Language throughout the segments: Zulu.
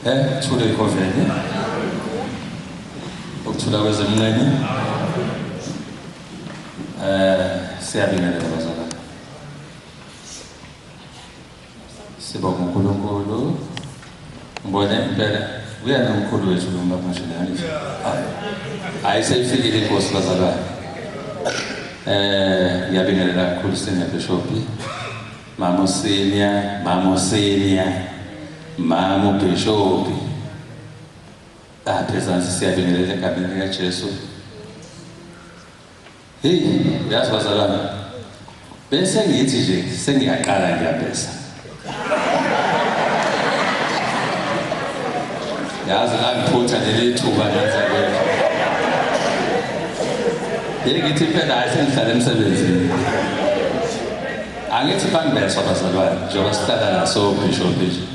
Eh, thule ikhonjeni. Ukuthula kwezemnqeni. Eh, siyabingelela bazalwane. Sibonga uNkulunkulu. Ngibona impela uyena umkhulu wethu lo mlapha nje nani. Hayi. Hayi seyifikile inkosi bazalwane. Eh, ngiyabingelela kakhulu senior bishop. Mama uSenior, mama uSenior, mama uBhishobhi. Apha ezansi siyabingelela egameni likaJesu. Hey, uyazi bazalwane. Bese ngithi nje sengiyaqala ngiyabhesa. Yazi la ngiphutha leli thuba lenza kwethu. Hey ngithi phela hayi sengihlala emsebenzini. Angithi banibeswa bazalwane njengoba sihlala naso bhisho bhisho.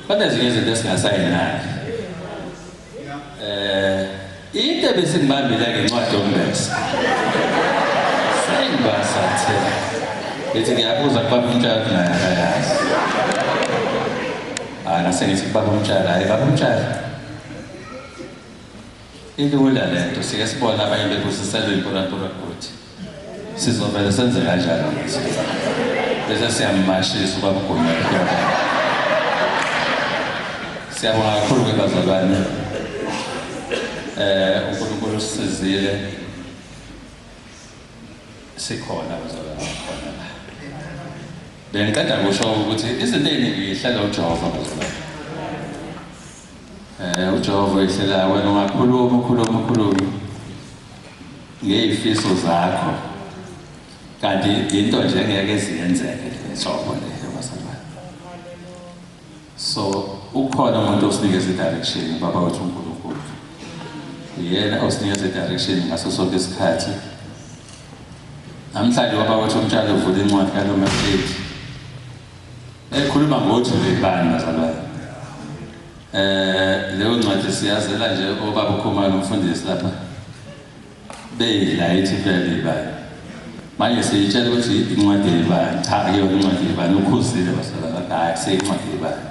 Banezinye izinto esingasayinayo. Eh into ebesingibambile ngencwadi yombese. Sengibasathe. Ngithi ngiyabuza kuba umtshalo naye akayazi. Ah ngase ngithi kuba umtshalo hayi baba umtshalo. Ilula lento sike sibona abanye bebusiselwe impurampura kuthi. Sizovele senze kanjalo bese siyamashisa ubabugonyela siyabonga kakhulu ke bazalwane eh uNkulunkulu usizile sikhona bazalwane khona la bengiqeda kusho ukuthi izinto eziningi yihlela uJehova bazalwane eh uJehova ihlela wena ungakhuluma ukhuluma ukhuluma ngey'fiso zakho kanti into nje engeke ziyenzeke nhlobo le yabazalwane so ukhona umuntu osinikeza i-direction ubaba wethu unkulunkulu yena osinikeza i-direction ngaso sonke isikhathi namhlanje ubaba wethu umtshalo uvula incwadi kalomahleti ekhuluma ngothi bebani bazalwane Eh leyo ncwadi siyazela nje obaba uKhumalo umfundisi lapha. Beyidla ithi vele ibani. Manje siyitshela ukuthi incwadi ibani. Cha iyo incwadi ibani ukhuzile basalala hayi seyincwadi ibani.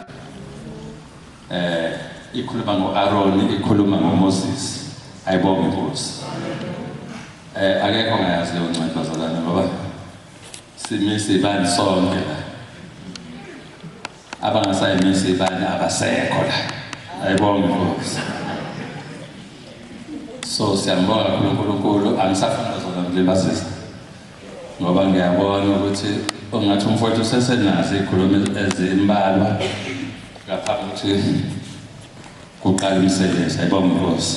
Eh ikhuluma ngoAron ikhuluma ngoMoses. Ayibonge inkosi. Eh akekho ngayazi leyo ncwadi bazalana ngoba simisi ibani sonke la. abangasayimisi ibani abasekho la ayibonge inkosi so siyambonga kakhulu unkulunkulu angisafuna zona ngilibazisa ngoba ngiyabona ukuthi ungathi umfowethu usesenazo iy'khulumi ezimbalwa ngaphambi ukuthi kuqala umsebenzi ayibonge inkosi